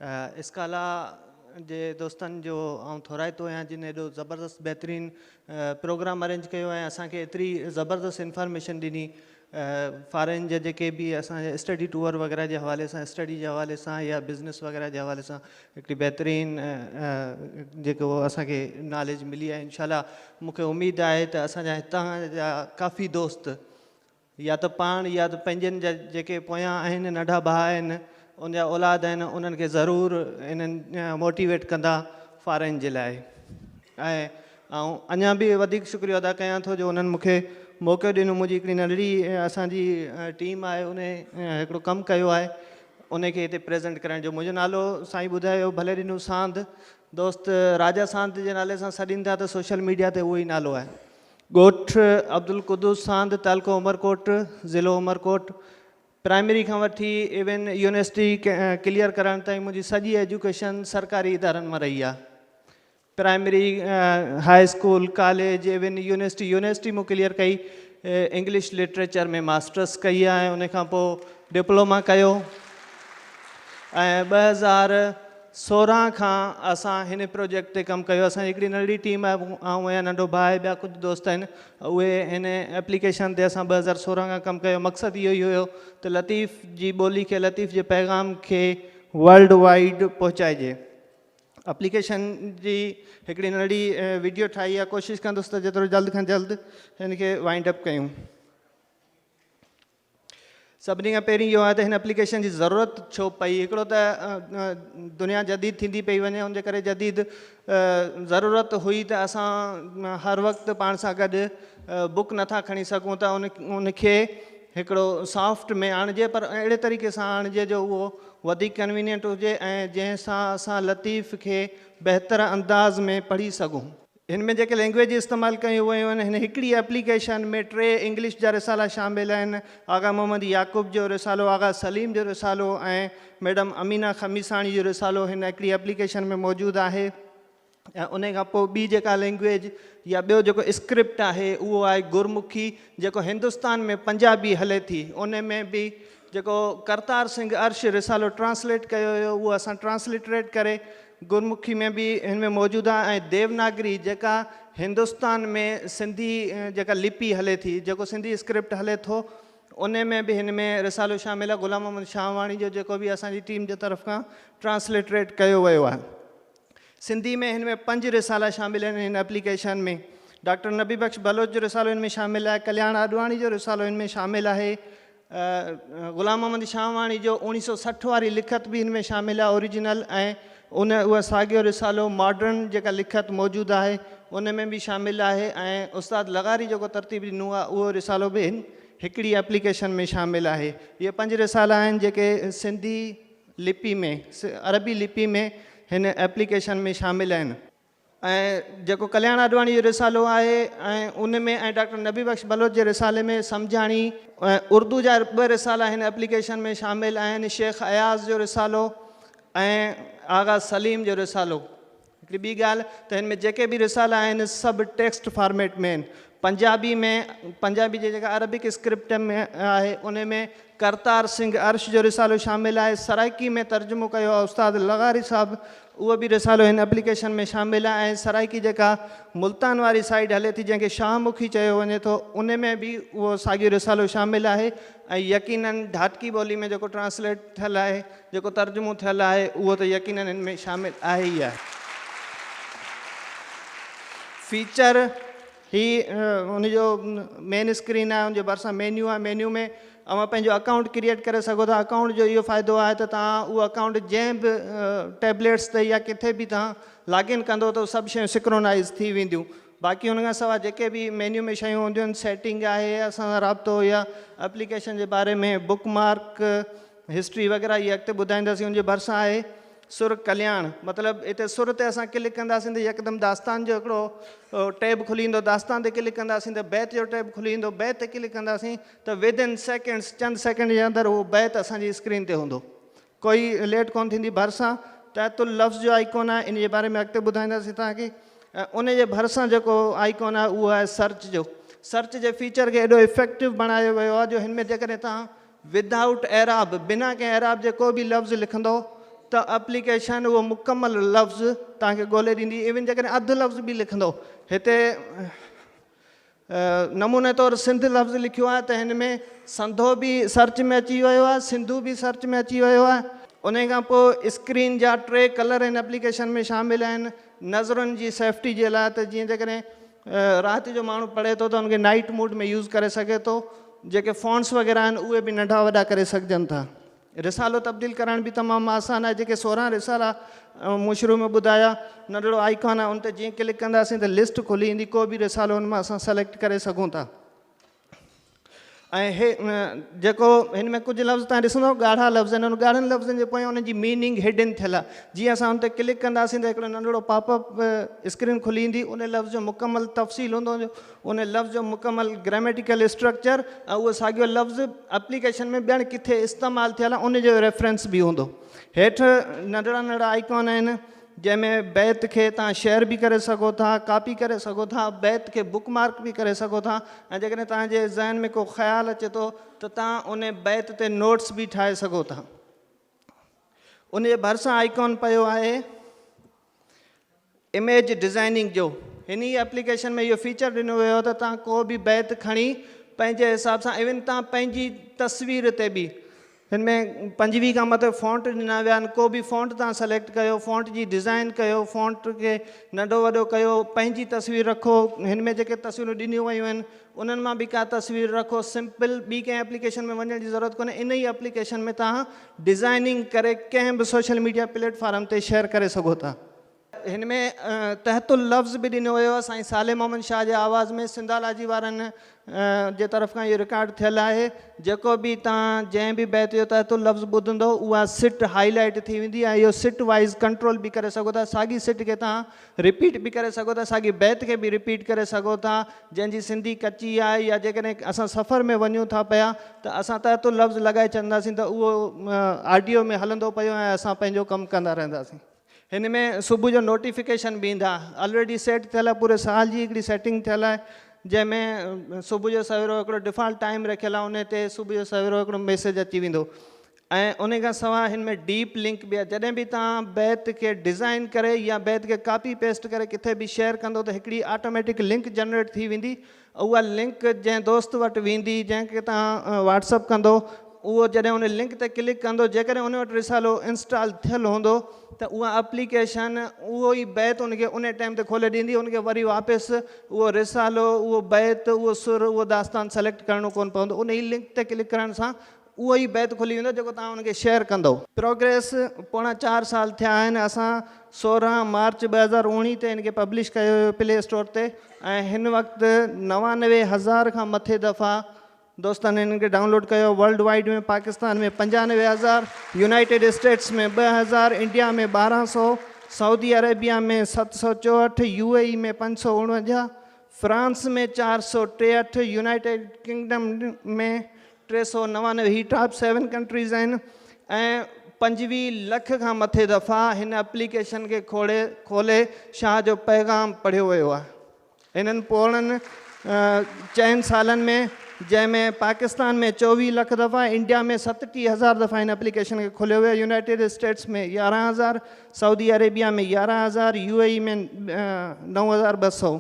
اسڪالا جي دوستن جو آئون ٿورائتو آهيان جن ايڏو زبردست بهترين پروگرام ارينج ڪيو ۽ اسان کي ايتري زبردست انفارميشن ڏني فارين جا جيڪي به اسان جا اسٽڊي ٽوئر وغيره جي حوالي سان اسٽڊي جي حوالي سان يا بزنس وغيره جي حوالي سان هڪڙي بهترين جيڪو اسان کي ناليج ملي آهي انشاء الله مون کي اميد آهي ته اسان جا هتان جا ڪافي دوست يا ته پاڻ يا ته پنهنجن جا جيڪي پويان آهن ننڍا ڀاء آهن ان جا اولاد آهن انهن کي ضرور انهن موٽيويٽ ڪندا فارين جي لاء ۽ آئون اڃان به وڌيڪ شڪريو ادا ڪيان ٿو جو انهن مونکي موقعو ڏنو منهنجي هڪڙي ننڍڙي اسان جي ٽيم آهي ان هڪڙو ڪم ڪيو آهي ان کي هتي پريزنٽ ڪرائڻ جو منهنجو نالو سائين ٻڌايو ڀلي ڏنو سانڌ دوست راجا سانت جي نالي سان سڏين ٿا ته سوشل ميڊيا تي اهو ئي نالو آهي ڳوٺ عبدالقدوس ساند، تعلقو عمرڪوٽ، ضلعو عمرڪوٽ. پرائمري کان وٺي ايون يونيورسٽي ڪليئر ڪرڻ تائين منهنجي سڄي ايجوڪيشن سرڪاري ادارن مان رهي آهي. Primary, high school, college, even university, university مون ڪليئر ڪئي، انگلش لٽريچر ۾ ماسٽرس ڪئي ۽ ان کان پوء ڊپلوما ڪيو ۽ ٻه هزار سورهن کان اسان هن پروجيڪٽ تي ڪم ڪيو اسان جي هڪڙي ننڍڙي ٽيم آهي آئون آهيان ننڍو ڀاء آهي ٻيا ڪجهه دوست آهن اهي هن ايپليڪيشن تي اسان ٻه هزار سورهن کان ڪم ڪيو مقصد اهو ئي هيو ته لطيف جي ٻولي کي لطيف جي پيغام کي ورلڊ وائيڊ پهچائجي اپليڪيشن جي هڪڙي ننڍڙي وڊيو ٺاهي آهي ڪوشش ڪندس ته جيترو جلد کان جلد هن کي وائنڊ اپ ڪيون. سڀني کان پهرين اهو آهي ته هن اپليڪيشن جي ضرورت ڇو پئي؟ هڪڙو ته دنيا جديد ٿيندي پئي وڃي ان جي ڪري جديد ضرورت هئي ته اسان هر وقت پاڻ سان گڏ بوڪ نٿا کڻي سگهون ته ان ان کي هڪڙو سافٽ ۾ آڻجي پر اهڙي طريقي سان آڻجي جو اهو وڌيڪ ڪنوينينٽ هجي ۽ جنهن سان اسان لطيف کي بهتر انداز ۾ پڙهي سگهون. هن ۾ جيڪي لينگويجز استعمال ڪيون ويون آهن، هن هڪڙي ايپليڪيشن ۾ ٽي انگلش جا رسالا شامل آهن، آغا محمد يعقوب جو رسالو، آغا سليم جو رسالو ۽ ميڊم امينه خميساڻي جو رسالو هن هڪڙي ايپليڪيشن ۾ موجود آهي ۽ انهي کان پوء ٻي جيڪا لينگويج يا ٻيو جيڪو اسڪرپٽ آهي اهو آهي گرمکي جيڪو هندستان ۾ پنجابي هلي ٿي انهي ۾ به جيڪو ڪرتار سنگهه ارش رسالو ٽرانسليٽ ڪيو هيو اهو اسان ٽرانسلٽريٽ ڪري گرمکي ۾ به هن ۾ موجود آهي ۽ ديوناگري جيڪا هندستان ۾ سنڌي جيڪا لپي هلي ٿي جيڪو سنڌي اسڪرپٽ هلي ٿو ان ۾ به هن ۾ رسالو شامل آهي غلام محمد شاهواڻي جو جيڪو به اسان جي ٽيم جي طرف کان ٽرانسلٽريٽ ڪيو ويو آهي سنڌي ۾ هن ۾ پنج رسالا شامل آهن هن اپليڪيشن ۾ ڊاڪٽر نبي بخش بلوچ جو رسالو هن ۾ شامل آهي ڪلياڻ آڏواڻي جو رسالو هن ۾ شامل آهي غلام محمد شاهواڻي جو اوڻيهه سؤ سٺ واري لکت به هن ۾ شامل آهي Original ۽ ان اهو ساڳيو رسالو Modern جيڪا لکت موجود آهي ان ۾ به شامل آهي ۽ استاد لغاري جيڪو ترتيب ڏنو آهي اهو رسالو به هن هڪڙي Application ۾ شامل آهي اهي پنج رسالا آهن جيڪي سنڌي لپي ۾ عربي لپي ۾ هن Application ۾ شامل آهن ۽ جيڪو ڪلياڻ آڏواڻي جو رسالو آهي ۽ ان ۾ ۽ ڊاڪٽر نبي بخش بلوچ جي رسالي ۾ سمجهاڻي ۽ اردو جا ٻه رسالا هن اپليڪيشن ۾ شامل آهن شيخ اياز جو رسالو ۽ آغا سليم جو رسالو هڪڙي ٻي ڳالهه ته هن ۾ جيڪي به رسالا آهن سڀ ٽيڪسٽ فارميٽ ۾ آهن پنجابي ۾ پنجابي جي جيڪا عربڪ اسڪرپٽ ۾ آهي ان ۾ ڪرتار سنگهه ارش جو رسالو شامل آهي سرائڪي ۾ ترجمو ڪيو آهي استاد لغاري صاحب اهو به رسالو هن اپليڪيشن ۾ شامل آهي ۽ سرائڪي جيڪا ملتان واري سائيڊ هلي ٿي جنهن کي شاهه مکي چيو وڃي ٿو ان ۾ به اهو ساڳيو رسالو شامل آهي ۽ يقيناً ڍاٽڪي ٻولي ۾ جيڪو ٽرانسليٽ ٿيل آهي جيڪو ترجمو ٿيل آهي اهو ته يقيناً هن ۾ شامل آهي ئي آهي. فيچر هي ان جو مين اسڪرين آهي ان جي ڀرسان مينيو آهي مينيو ۾ اوهان پنهنجو اڪائونٽ ڪريئيٽ ڪري سگهو ٿا اڪائونٽ جو اهو فائدو آهي ته توهان اهو اڪائونٽ جنهن به ٽيبليٽس تي يا ڪٿي به توهان لاگ ان ڪندو ته سڀ شيون سڪرونائز ٿي وينديون باقي ان کان سواء جيڪي به مينيو ۾ شيون هونديون آهن سيٽنگ آهي اسان سان رابطو يا اپليڪيشن جي باري ۾ بڪ مارڪ هسٽري وغيره اهي اڳتي ٻڌائينداسين ان جي ڀرسان آهي سر ڪلياڻ مطلب اتي سر تي اسان ڪلڪ ڪنداسين ته يڪدم داستان جو هڪڙو ٽيب کلي ويندو داستان تي ڪلڪ ڪنداسين ته بيت جو ٽيب کلي ويندو بيت تي ڪلڪ ڪنداسين ته ودن سيڪنڊس چند سيڪنڊ جي اندر اهو بيت اسان جي اسڪرين تي هوندو ڪوئي ليٽ ڪون ٿيندي ڀرسان تحت اللفظ جو آئيڪون آهي ان جي باري ۾ اڳتي ٻڌائينداسين توهان کي ان جي ڀرسان جيڪو آئيڪون آهي اهو آهي سرچ جو سرچ جي فيچر کي ايڏو افيڪٽو بڻايو ويو آهي جو هن ۾ جيڪڏهن توهان Without اعراب، بنا ڪنهن اعراب جي ڪو به لفظ لکندؤ ته اپليڪيشن اهو مڪمل لفظ توهان کي ڳولي ڏيندي ايون جيڪڏهن اڌ لفظ به لکندؤ هتي نموني طور سنڌ لفظ لکيو آهي ته هن ۾ سنڌو به سرچ ۾ اچي ويو آهي سنڌو به سرچ ۾ اچي ويو آهي انهي کان پوء اسڪرين جا ٽي ڪلر هن اپليڪيشن ۾ شامل آهن نظرن جي سيفٽي جي لاء ته جيئن جيڪڏهن رات جو ماڻهو پڙهي ٿو ته ان کي نائيٽ موڊ ۾ يوز ڪري سگهي ٿو. جيڪي فونٽس وغيره آهن اهي به ننڍا وڏا ڪري سگهجن ٿا. رسالو تبديل ڪرائڻ به تمام آسان آهي. جيڪي سورهن رسالا مون شروع ۾ ٻڌايا. ننڍڙو آئيڪان آهي ان تي جيئن ڪلڪ ڪنداسين ته لسٽ کلي ايندي ڪو به رسالو ان مان اسان سليڪٽ ڪري سگهون ٿا. ۽ هي جيڪو هن ۾ ڪجهه لفظ تان ڏسندو ڳاڙها لفظ آهن ان ڳاڙهن لفظن جي پويان ان جي ميننگ هڊن ٿيل آهي جي اسان ان تي ڪلڪ ڪنداسين ته هڪڙو ننڍڙو پاپ اپ اسڪرين کلي ايندي ان لفظ جو مڪمل تفصيل هوندو جو ان لفظ جو مڪمل گراميٽيڪل اسٽرڪچر ۽ اهو ساڳيو لفظ اپليڪيشن ۾ ٻيڻ ڪٿي استعمال ٿيل آهي ان جو ريفرنس به هوندو هيٺ ننڍڙا ننڍڙا آئيڪون آهن جنهن ۾ بيت کي توهان شيئر به ڪري سگهو ٿا، ڪاپي ڪري سگهو ٿا، بيت کي بوڪ مارڪ به ڪري سگهو ٿا ۽ جيڪڏهن توهان جي ذهن ۾ ڪو خيال اچي ٿو ته توهان ان بيت تي نوٽس به ٺاهي سگهو ٿا. ان جي ڀرسان آئيڪون پيو آهي اميج ڊزائننگ جو. هن ئي ايپليڪيشن ۾ اهو فيچر ڏنو ويو آهي ته توهان ڪو به بيت کڻي پنهنجي حساب سان ايون توهان پنهنجي تصوير تي به هن ۾ پنجويهه کان مٿي فونٽ ڏنا ويا آهن، ڪو به فونٽ توهان سليڪٽ ڪيو، فونٽ جي ڊزائين ڪيو، فونٽ کي ننڍو وڏو ڪيو، پنهنجي تصوير رکو، هن ۾ جيڪي تصويرون ڏنيون ويون آهن انهن مان به ڪا تصوير رکو، سمپل ٻي ڪنهن ايپليڪيشن ۾ وڃڻ جي ضرورت ڪونهي، ان ئي ايپليڪيشن ۾ توهان ڊزائيننگ ڪري ڪنهن به سوشل ميڊيا پليٽ فارم تي شيئر ڪري سگهو ٿا. هن ۾ تحت اللفظ به ڏنو ويو آهي سائين صالح محمد شاهه جي آواز ۾ سنڌالاجي وارن جي طرف کان اهو رڪارڊ ٿيل آهي جيڪو به توهان جنهن به بيت جو تحت اللفظ ٻڌندو اها سٽ هائي لائيٽ ٿي ويندي ۽ اهو سٽ وائيز ڪنٽرول به ڪري سگهو ٿا ساڳي سٽ کي توهان رپيٽ به ڪري سگهو ٿا ساڳي بيت کي به رپيٽ ڪري سگهو ٿا جنهن جي سنڌي ڪچي آهي يا جيڪڏهن اسان سفر ۾ وڃون ٿا پيا ته اسان تحت اللفظ لڳائي ڇڏنداسين ته اهو آڊيو ۾ هلندو پيو ۽ اسان پنهنجو ڪم ڪندا رهنداسين هن ۾ صبح جو نوٽيفڪيشن به ايندا الريڊي سيٽ ٿيل آهي پوري سال جي هڪڙي سيٽنگ ٿيل آهي جنهن ۾ صبح جو سويرو هڪڙو ڊفالٽ ٽائيم رکيل آهي ان تي صبح جو سويرو هڪڙو ميسيج اچي ويندو ۽ ان کان سواء هن ۾ ڊيپ لنڪ به آهي جڏهن به توهان بيت کي ڊزائين ڪري يا بيت کي ڪاپي پيسٽ ڪري ڪٿي به شيئر ڪندو ته هڪڙي آٽوميٽڪ لنڪ جنريٽ ٿي ويندي اها لنڪ جنهن دوست وٽ ويندي، جنهن کي توهان واٽس اپ ڪندو، اهو جڏهن ان لنڪ تي ڪلڪ ڪندو، جيڪڏهن ان وٽ رسالو انسٽال ٿيل هوندو ته اها اپليڪيشن اهو ئي بيت ان کي انهي ٽائيم تي کولي ڏيندي، ان کي وري واپس اهو رسالو، اهو بيت، اهو سر، اهو داستان سليڪٽ ڪرڻو ڪونه پوندو، انهي لنڪ تي ڪلڪ ڪرڻ سان اهو ئي بيت کلي ويندو جيڪو توهان ان کي شيئر ڪندؤ. پروگريس، پوڻا چار سال ٿيا آهن، اسان سورهن مارچ ٻه هزار اوڻيهه تي هن کي پبلش ڪيو هيو پلي اسٽور تي ۽ هن وقت نوانوي هزار کان مٿي دفعا دوستن هن کي ڊائونلوڊ ڪيو ورلڊ وائيڊ ۾ پاڪستان ۾ پنجانوي هزار، يونائيٽيڊ اسٽيٽس ۾ ٻه هزار، انڊيا ۾ ٻارهن سؤ، سعودي عريبيا ۾ ست سؤ چوهٺ، يو اي اي ۾ پنج سؤ اوڻونجاهه، فرانس ۾ چار سؤ ٽيهٺ، يونائيٽيڊ ڪنگڊم ۾ ٽي سؤ نوانوي هي ٽاپ سيون ڪنٽريز آهن ۽ پنجويهه لک کان مٿي دفعا هن اپليڪيشن کي کوڙي کولي شاهه جو پيغام پڙهيو ويو آهي هنن پوڙهن چئن سالن ۾ جنهن ۾ پاڪستان ۾ چوويهه لک دفعا انڊيا ۾ ستٽيهه هزار دفعا هن اپليڪيشن کي کوليو ويو يونائيٽيڊ اسٽيٽس ۾ يارهن هزار سعودي عربيا ۾ يارهن هزار يو اي اي ۾ نو هزار ٻه سؤ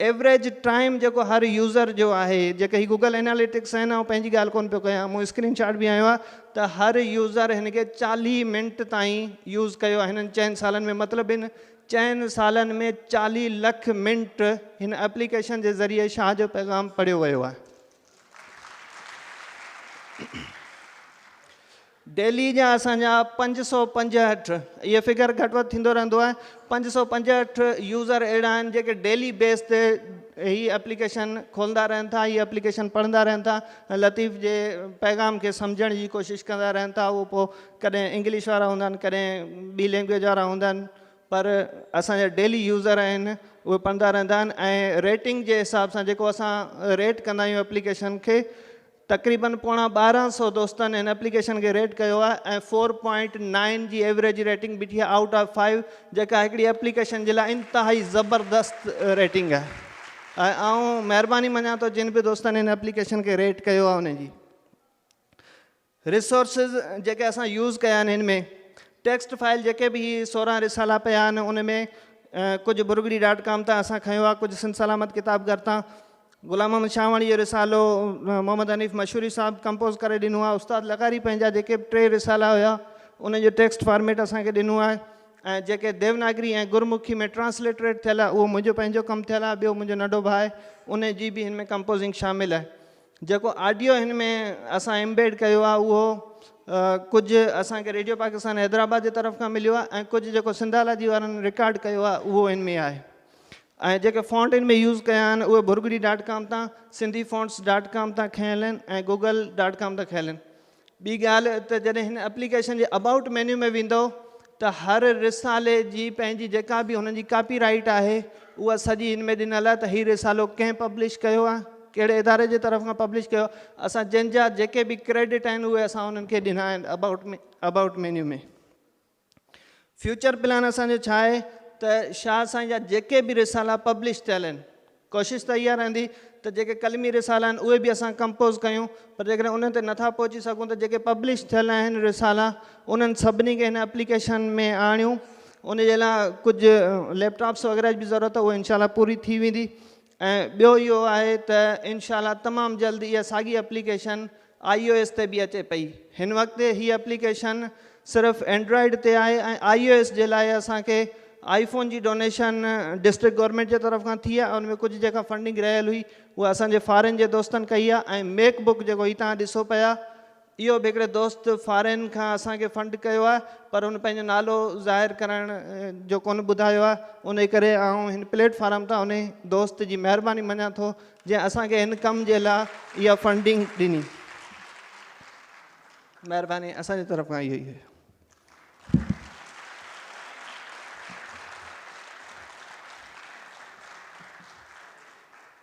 ايوريج ٽائيم جيڪو هر يوزر جو آهي جيڪي هي گوگل اناليٽڪس آهن آئون پنهنجي ڳالهه ڪونه پيو ڪيان مون اسڪرين شاٽ به هنيو آهي ته هر يوزر هن کي چاليهه منٽ تائين يوز ڪيو آهي هنن چئن سالن ۾ مطلب هن چئن سالن ۾ چاليهه لک منٽ هن اپليڪيشن جي ذريعي شاهه جو پيغام پڙهيو ويو آهي دهلي جا اسان جا پنج سؤ پنجهٺ اهي فگر گهٽ وڌ ٿيندو رهندو آهي پنج سؤ پنجهٺ يوزر اهڙا آهن جيڪي ڊيلي بيس تي هي اپليڪيشن کولندا رهن ٿا هي اپليڪيشن پڙهندا رهن ٿا ۽ لطيف جي پيغام کي سمجهڻ جي ڪوشش ڪندا رهن ٿا اهو پوء ڪڏهن انگلش وارا هوندا آهن ڪڏهن ٻي لينگويج وارا هوندا آهن پر اسان جا ڊيلي يوزر آهن اهي پڙهندا رهندا آهن ۽ ريٽنگ جي حساب سان جيڪو اسان ريٽ ڪندا آهيون اپليڪيشن کي تقريبن پوڻا ٻارهن سؤ دوستن هن اپليڪيشن کي ريٽ ڪيو آهي ۽ فور پوائنٽ نائن جي ايوريج ريٽنگ بيٺي آهي آئوٽ آف فائيو جيڪا هڪڙي اپليڪيشن جي لاء انتهائي زبردست ريٽنگ آهي ۽ آئون مهرباني مڃان ٿو جن به دوستن هن اپليڪيشن کي ريٽ ڪيو آهي انهن جي ريسورسز جيڪي اسان يوز ڪيا آهن هن ۾ ٽيڪسٽ فائل جيڪي به هي سورهن رسالا پيا آهن ان ۾ ڪجهه برگڙي ڊاٽ ڪام تان اسان کنيو آهي ڪجهه سنڌ سلامت ڪتاب گهر تان غلام محمد شاهواڻي جو رسالو محمد حنيف مشوري صاحب ڪمپوز ڪري ڏنو آهي استاد لغاري پنهنجا جيڪي به ٽي رسالا هيا انهن جو ٽيڪسٽ فارميٽ اسان کي ڏنو آهي ۽ جيڪي ديوناگري ۽ گرمکي ۾ ٽرانسليٽريٽ ٿيل آهي اهو منهنجو پنهنجو ڪم ٿيل آهي ٻيو منهنجو ننڍو ڀاء آهي ان جي به هن ۾ ڪمپوزنگ شامل آهي جيڪو آڊيو هن ۾ اسان امبيڊ ڪيو آهي اهو ڪجهه اسان کي ريڊيو پاڪستان حيدرآباد جي طرف کان مليو آهي ۽ ڪجهه جيڪو سنڌالاجي وارن رڪارڊ ڪيو آهي اهو هن ۾ آهي ۽ جيڪي فونٽ ان ۾ يوز ڪيا آهن اهي ڀرڳڙي ڊاٽ ڪام تان، سنڌي فونٽس ڊاٽ ڪام تان کنيل آهن ۽ گوگل ڊاٽ ڪام تان کنيل آهن. ٻي ڳالهه ته جڏهن هن اپليڪيشن جي ابائوٽ مينيو ۾ ويندئو ته هر رسالي جي پنهنجي جيڪا به هن جي ڪاپي رائيٽ آهي اها سڄي هن ۾ ڏنل آهي ته هي رسالو ڪنهن پبلش ڪيو آهي ڪهڙي اداري جي طرف کان پبلش ڪيو اسان جن جا جيڪي به ڪريڊٽ آهن اهي اسان انهن کي ڏنا آهن about about menu ۾. Future plan اسان جو ڇا آهي ته شاهه سائين جا جيڪي به رسالا پبلش ٿيل آهن ڪوشش ته اها رهندي ته جيڪي قلمي رسالا آهن اهي به اسان ڪمپوز ڪيون پر جيڪڏهن انهن تي نٿا پهچي سگهون ته جيڪي پبلش ٿيل آهن رسالا انهن سڀني کي هن اپليڪيشن ۾ آڻيون ان جي لاء ڪجهه ليپ ٽاپس وغيره جي به ضرورت اهو انشاء الله پوري ٿي ويندي ۽ ٻيو اهو آهي ته انشاء الله تمام جلد اها ساڳي اپليڪيشن آئي او ايس تي به اچي پئي. هن وقت هي اپليڪيشن صرف اينڊرائيڊ تي آهي ۽ آئي او ايس جي لاء اسان کي آئي فون جي ڊونيشن ڊسٽرڪٽ گورنمينٽ جي طرف کان ٿي آهي ان ۾ ڪجهه جيڪا فنڊنگ رهيل هئي اها اسان جي فارين جي دوستن ڪئي آهي ۽ ميڪ بڪ جيڪو هي توهان ڏسو پيا اهو به هڪڙي دوست فارين کان اسان کي فنڊ ڪيو آهي پر هن پنهنجو نالو ظاهر ڪرڻ جو ڪونه ٻڌايو آهي انهي ڪري آئون هن پليٽ فارم تان انهي دوست جي مهرباني مڃان ٿو جنهن اسان کي هن ڪم جي لا اها فنڊنگ ڏني مهرباني اسان جي طرف کان اهو ئي هيو.